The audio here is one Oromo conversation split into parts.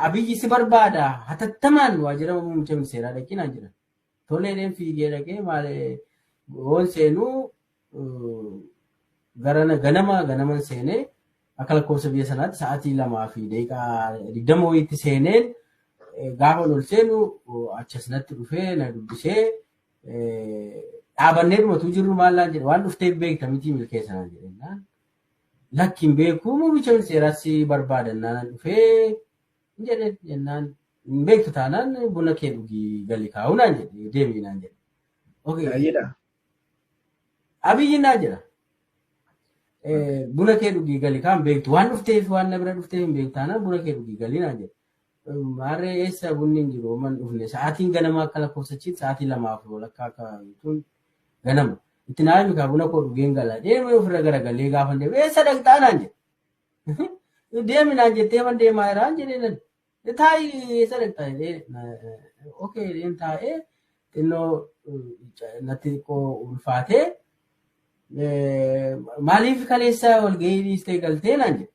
Abiyyi si barbaada hatattamaan waajjira muummicha ministeeraa dhaqii naan jedhan. Toleedheen fiigee dhaqee maal hoon seenuu garana ganama ganaman seenee akka lakkoofsa biyya sanaatti sa'aatii lamaa fi daqiiqaa digdama wayiitti seeneen gaafa ol seenu achas natti dhufee na dubbisee dhaabannee dhumatu jirru maal naan jedhe waan dhufteef beekta miti milkeessanaan jedhennaan Lakki hin beeku muummicha ministeeraas si barbaadan naan dhufee hin jedhe jennaan hin beektu taanaan buna kee dhugii gali kaa'u naan jedhe deemii naan jedhe. Okay. Baay'eedha. Abiyyi naa jira. Eh, Buna kee dhugii gali kaan beektu waan dhufteef waan na bira dhufteef hin beektu taanaan buna kee dhugii gali naan jedhe. Maarree eessa bunni hin jiru homan dhufne sa'aatiin ganama akka lakkoofsachiitti sa'aatii lamaa fi walakkaa akka jechuun ganama. Itti naa himi kaa buna koo dhugeen gala deemee ofirra garagalee gaafa hin deemu eessa dhaqxaa naan jedhe. Deemi naan jettee man deemaa jiraan jedhee nan taa'i eessa dhaqxaa jedhee okee jedheen taa'ee xinnoo natti xiqqoo ulfaatee maaliif kaleessa walgahii dhiistee galtee naan jedhe.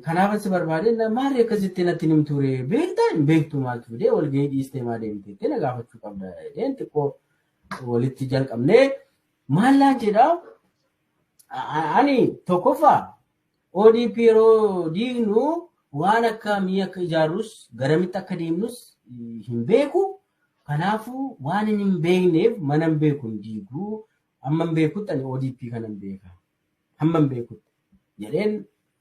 Kanaaf si barbaadee maali akkasitti natti hin ture beektaa hin beektu maaltu fidee walgahii dhiistee maa deemte jettee na gaafachuu qabda jedheen xiqqoo walitti jalqabnee maallaan jedhaa ani tokkoffaa ODP yeroo diignu waan akkamii akka ijaarrus garamitti akka deemnus hin beeku. Kanaafuu waan inni hin beekneef mana hin beeku hin diigu. Amma hin beekutti ani ODP kana hin beeka. hamman beekutti jedheen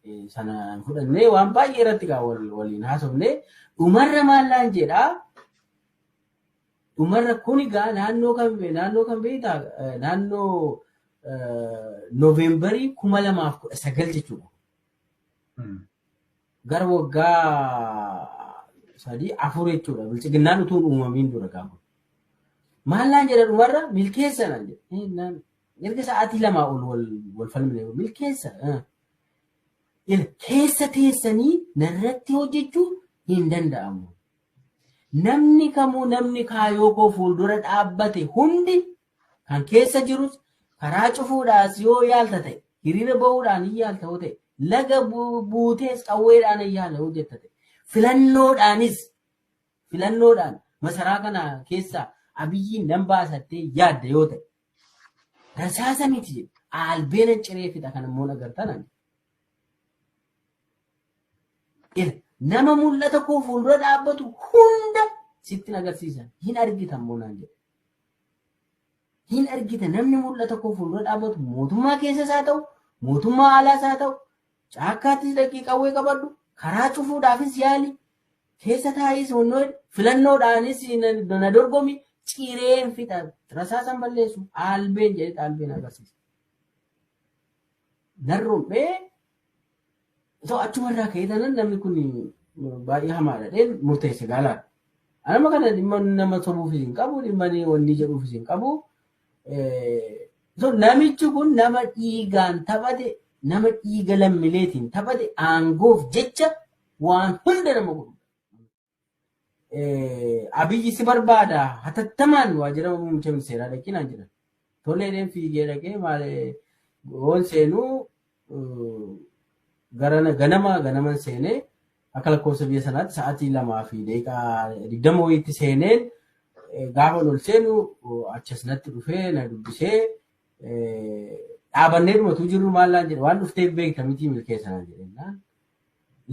eh, sana hin fudhannee waan baay'ee irratti gaa wal- waliin haasofnee dhumarra maallaan jedhaa dhumarra kun egaa naannoo kan naannoo kan beektaa eh, naannoo eh, Noovembarii kuma lamaaf kudha sagal jechuudha. Mm. Gara waggaa sadii afur jechuudha. Bilchiginnaan utuu hin uumamiin dura gaafa. Maallaan jedha dhumarra milkeessanaan jedha. Eh, naan Erga sa'aatii lamaa ol wal wal falmine milkeessa. eh. Ila keessa teessanii narratti hojjechuu hin danda'amu. Namni kamuu namni kaayoo koo fuuldura dhaabbate hundi kan keessa jirus karaa cufuudhaas yoo yaalta ta'e hiriira ba'uudhaan hin yaalta yoo ta'e laga bu- buutees qawweedhaan hin yaala yoo jetta ta'e filannoodhaanis filannoodhaan masaraa kana keessaa abiyyiin nan baasattee yaadda yoo ta'e Rasaasa miti jedhe. Albeena ciree fixa kan immoo agartan ani. Ila nama mul'ata koo fuuldura dhaabbatu hunda sitti agarsiisa. Hin argitan moo naan jedhe. Hin argita namni mul'ata koo fuuldura dhaabbatu mootummaa keessas haa ta'u mootummaa alaas haa ta'u Caakkaattis dhaqii qawwee qabadhu, karaa cufuudhaafis yaali, keessa taa'iis wannoo hidhi, filannoodhaanis na dorgomi, cireen fixa, rasaasan balleessu, aalbeen jedhee aalbeen agarsiisa. Nan rom'ee osoo achumarraa ka'ee tanan namni kun baay'ee hamaadha dheen murteesse gaalaa. Anama kana dhimma nama sobuufis hin qabu, dhimma wanni jedhuufis hin qabu. Eh, so namichi kun nama dhiigaan taphate nama dhiiga lammileetiin taphate aangoof jecha waan hunda nama godhu. Eh, Abiyyi si barbaada hatattamaan waajjira muummicha ministeeraa dhaqinaan jedhan. Toleedheen fiigee dhaqee maal eh, hoon seenuu garana ganama ganaman seenee akka lakkoofsa biyya sanaatti sa'aatii lamaa fi daqiiqaa digdama wayiitti seeneen eh, gaafa ol seenu oh, achas natti dhufee na dubbisee eh, dhaabannee dhumatu jirru maallaan jedhe waan dhufteef beekta mitii milkeessanaan jedhennaan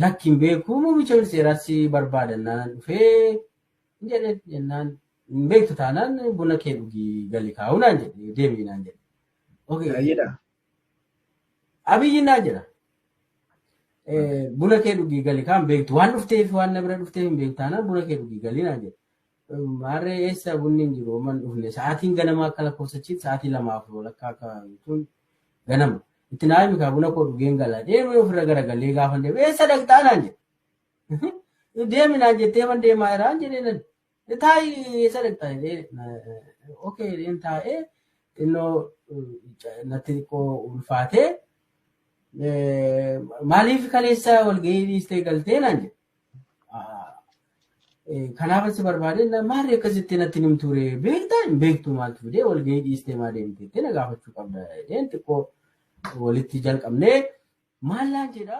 lakkiin beekuu muummicha ministeeraas si barbaadannaan dhufee hin jedhe jennaan hin beektu taanaan buna kee dhugii gali kaa'uu naan jedhe deemii naan jedhe. Okay. Baay'eedha. Abiyyi naa jira. Eh, Buna kee dhugii gali kaan beektu waan dhufteef waan na bira dhufteef hin beektu taanaan buna kee dhugii gali naa jira. Maarree eessa bunni hin jiru man dhufne sa'aatiin ganamaa akka lakkoofsachiitti sa'aatii lamaa fi walakkaa akka jechuun ganama. Itti naa himi kaa buna koo dhugeen gala deemee ofirra garagalee gaafa deemu eessa dhaqxaa naan jedhe. Deemi naan jettee man deemaa jiraan jedhee nan. Taa'ii eessa dhaqxa jedhee na- okay jedheen taa'ee xinnoo eh, natti xiqqoo ulfaatee eh, maaliif kaleessa walgahii dhiistee galtee naan jedhe. Ah, eh, Kanaaf asi barbaade na- maali akkasitti natti nim ture beektaa hin beektu maaltu fidee walgahii dhiistee maa deemte jettee na gaafachuu qabda jedheen xiqqoo walitti jalqabnee maal naan jedhaa